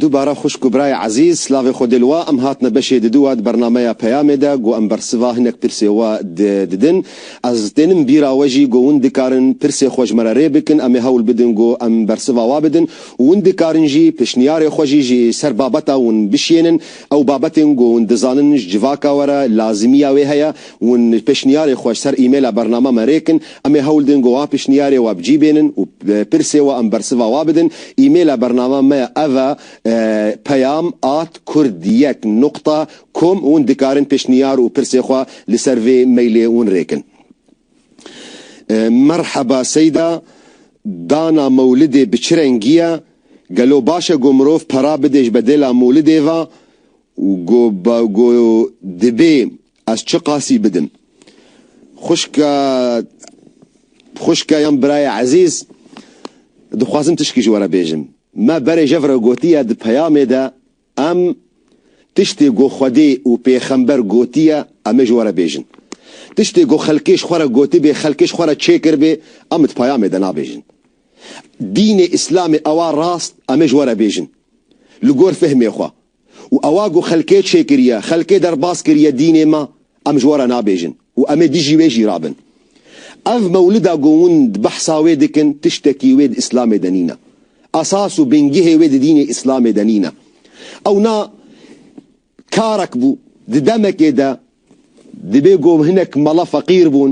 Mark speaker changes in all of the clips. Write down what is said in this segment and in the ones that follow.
Speaker 1: Dubare xwişk û birayê ezîz, silavê xwe dê li we. Em hatine beşê diduwa di bernameya Peyamê de, ku em bersiva hinek pirsê we didin. Ez tênim bîra we jî ku hûn dikarin pirsê xwe ji me re rê bikin, em ê hewl bidin ku em bersiva we bidin û hûn dikarin jî pişniyarê xwe jî ji ser babeta hûn bişiyênin. Ew babetên ku hûn dizanin ji civaka we re lazimiya wê heye, hûn pişniyarê xwe ji ser emaila bernama me rê kin. Em ê hewl din ku wa pişniyarê we bi cî bênin û pirsê we em bersiva wa bidin. Îmêla bernama me ya ev e, peyam at kurd yek nuqta kom hûn dikarin pişniyar û pirsê xwe li ser vê mailê hûn rêkin. Merheba Seyda, Dana mewlidê bi çi rengî ye? Gelo baş e ku mirov pera bide ji bedêla mewlidê ve û ku dibê Ez çi qasî bidim? Xwişka xwişka yan birayê ezîz, dixwazim tişkî ji we re bêjim. Me berê jev re gotiye di peyamê de em tiştê ku Xwedê û pêxember gotiye em ê ji we re bêjin. Tiştê ku xelkê ji xwe re gotibê, xelkê ji xwe re çêkiribê em di peyamê de nabêjin. Dînê Îslamê ew a rast em ê ji we re bêjin. Li gor fehmê xwe, û ewa ku xelkê çêkiriye, xelkê derbas kiriye dînê me, em ji we re nabêjin û em ê dijî wê jî rabin. Ev mewlida ku hûn behsa wê dikin tiştekî wê di Îslamê de nîne. Esas û bingehê wê di dînê Îslamê de nîne. Ew na karek bû di demekê de divê ku hinek mala feqîr bûn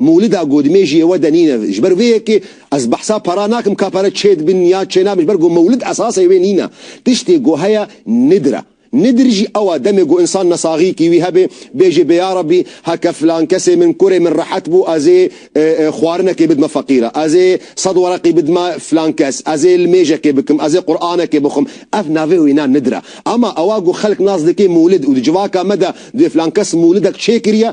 Speaker 1: Mûlida godimê jî êwe de nîne. Ji ber vê yekê ez behsa para nakim ka pere çê dibin ya çê nabin ji ber ku mûlid esasê wê nîne. Tiştê ku heye nidir e. Nidir jî ew e demê ku însan nesaxîkî wî hebe bêje bê yarebî heke filan kesê min kurê min rehet bû ez ê xwarinekê bidime feqîre, ez ê sed wereqî bidime filan kes, ez ê limêjekê bikim, ez ê quranekê bixwim. Ev navê wîna nidir e. Ema ewa ku xelk nas dike mûlid û di civaka me de duyê filan kes mûlidek çêkiriye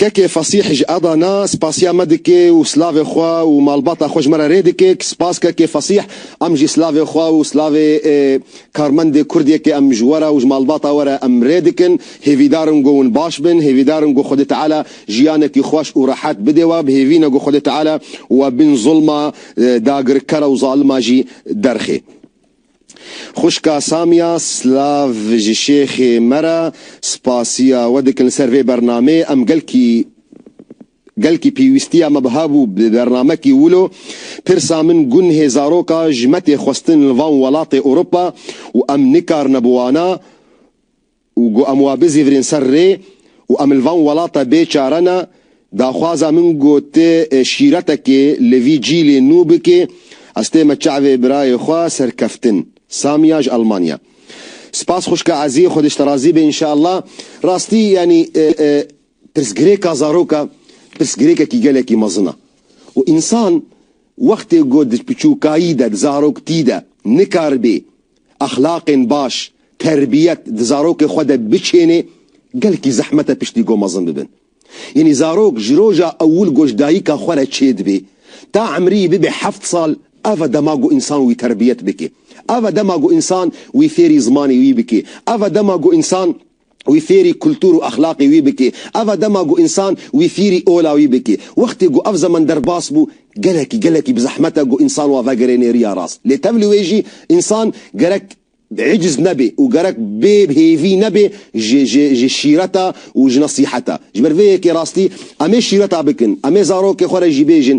Speaker 1: Kekê Fasîh ji Eda na spasiya me dike û silavê xwe û malbata xwe ji me re rê dike. Spas Kekê Fasîh, em jî silavê xwe û silavê karmendê kurd yê ke em ji we re û ji malbata we re em rê dikin. Hêvîdar in ku hûn baş bin, hêvîdar in ku Xwedê Teala jiyanekî xweş û rehet bide we, bi hêvî ne ku Xwedê Teala we bin zulma dagirker û zalima jî derxê. Xwişka Samiya, Silav ji şêxê me re, spasiya we dikin li ser vê bernameyê. Em gelkî gelkî pîwîstiya me biha bû bi bernamekî wilo. Pirsa min gunhê zaroka ji me tê xwestin li van welatê Ewropa û em nikarine bi wana. û got em wa bizîvirîn ser rê û em li van welata bê çare ne, daxwaza min got tê şîretekê li vî cîlê nû bikê, ez tême çavê birayê xwe serkeftin. Samia ji Almanya. Spas xwişka ezî, xwedê ji te razî be înşeallah. Rastî yanî pirsgirêka zarok e pirsgirêkekî gelekî mezin e û însan wextê ku di biçûkayî de, di zaroktî de nikaribê Exlaqên baş, terbiyet di zarokê xwe de biçênê gelkî zehmet e piştî ku mezin bibin. Yanî zarok ji roja ewil ku ji dayika xwe re çêdibê ta emrî bibe heft sal ev e dema ku însan wî terbiyet bike. Ev e dema ku însan wî fêrî zimanê wî bike. Ev e dema ku însan. wî fêrî kultur û exlaqê wî bikî. Eva dema ku însan wî fîrî ola wî bikî. Wextê ku ev zeman derbas bû, gelekî gelekî bi zehmet e ku însan wan vegere nêriya rast. Lê tevlî wê jî însan gerek îciz nebe û gerek bê hêvî nebe ji ji ji şîreta û ji nesîheta. Ji ber vê yekê rastî em ê şîreta bikin, em ê zarokê xwe re jî bêjin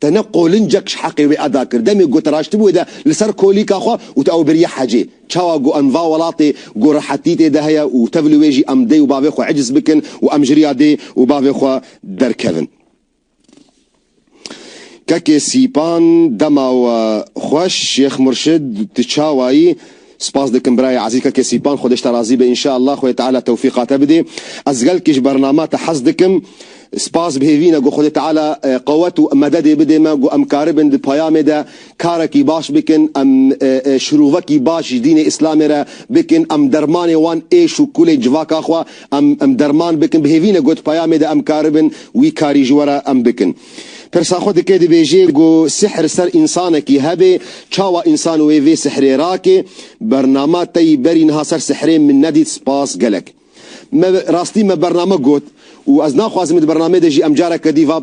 Speaker 1: Te ne qolincek ji heqê wê eda kir. Demê ku te raştibû wê de li ser kolîka xwe û te ew biriye hecê. Çawa ku em va welatê ku rehetî tê de heye û tev li wê jî em dê û bavê xwe eciz bikin û em ji riya dê û bavê xwe derkevin. Kekê Sîpan, Dema we xweş Şêx Murşid, tu çawa yî? Spas dikim birayê ezîz Keke Sîpan xwedê ji te razî be înşeellah xwedê Teala tewfîqa te bidê. Ez gelkî ji bernama te hez dikim. Spas bi hêvî ne ku xwedê Teala qewet û mededê bidê me ku em karibin di peyamê de karekî baş bikin em şirovekî baş ji dînê îslamê re bikin em dermanê wan êş û kulên civaka xwe em em derman bikin bi hêvî ne ku di peyamê de em karibin wî karî ji we re em bikin. Pirsa xwe dike dibêje ku sihr ser însanekî hebe çawa însan wê vê sihrê rake? Bernama te yî berî niha ser sihrê min nedît spas gelek. Me rastî me bernama got û ez naxwazim di bernamê de jî em careke dî va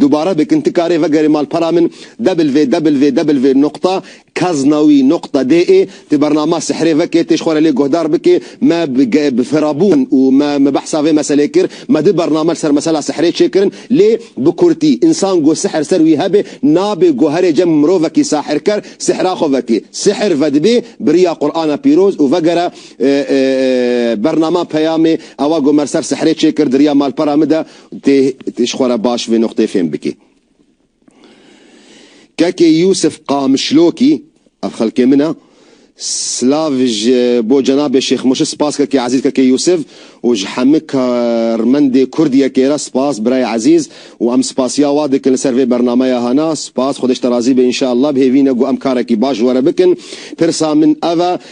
Speaker 1: dubare bikin ti karê vegerî malpera min www. Noqta Kaznawi Nokta DE Ti bernama Sihrê veke têj xwe re lê guhdar bike Me bi Firabûn û me me behsa vê meselê kir Me du bername li ser mesela sihrê çêkirin lê bi kurtî Însan ku sihr ser wî hebe nabê goherê cem Mirovekî sahirker sihra xwe veke sihr vedibê biriya Qur'ana pîroz û vegere Bernama Peyamê ewa ku me li ser sihrê çêkir diriya malpera min de têj xwe re baş vê nokteyê fêm bike. Kekê Yûsif Qamişlokî, Ev xelkê min e. Silav ji bo cenabê Şêx Murşid Spas kekê ezîz Kekê Yûsif û ji hemû karmendê kurd yekê re spas birayê ezîz û em spasiya wa dikin li ser vê bernameya hana. Spas, Xwedê ji te razî be înşeellah. Bi hêvî ne ku em karekî baş ji we re bikin. Pirsa min ev e.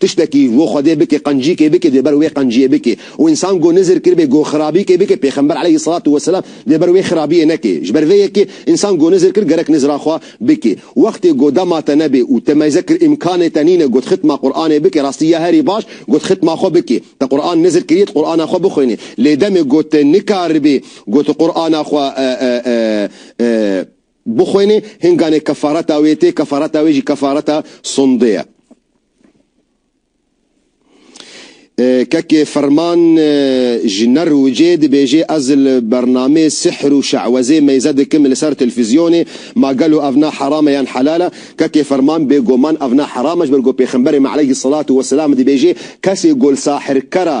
Speaker 1: Tiştekî û Xwedê bike qencîkê bike dê ber wê qenciyê bike û însan go nizir kiribê go xirabîkê bike pêxember eleyhî selatû weselam dê ber wê xirabiyê neke. Ji ber vê yekê însan go nizir kir gerek nizira xwe bike. Wextê go dema te nebê û te meyze kir îmkanê te nîne got xitma Quranê bike rastî ya herî baş got xitma xwe bike. Te Quran nizir kirî tu Qurana xwe bixwînî lê demê go te nikaribî go tu Qurana xwe Bixwîne hin ganê kefareta wê tê, kefareta wê jî kefareta sundê ye. Kekê Ferman ji Nerwicê dibêje ez li bernamê sihr û şe'wezê meyze dikim li ser telfîzyonê, ma gelo ev ne heram e yan helal e? Kekê Ferman bêgoman ev ne heram e ji ber ku pêxemberê me eleyhî selatû weselam dibêje kesê golsahirker a,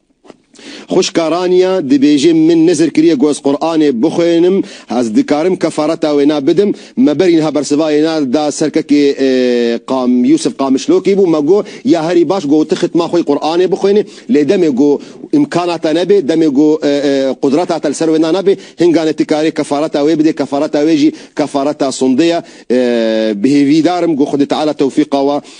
Speaker 1: Xwişka Rania dibêje min nizir kiriye ku ez Quranê bixwênim, ez dikarim kefareta wê na bidim. Me berî niha bersivayê na da ser kekê Yûsif Qamişlokî bû, me got ya herî baş got tu xitma xwe yî Quranê bixwênê lê demê ku îmkana te nebê, demê ku qudrata te li ser wê na nabê hingane tu karê kefareta wê bidê, kefareta wê jî kefareta sundê ye. Bi hêvîdar im ku Xwedî Teala tewfîqa we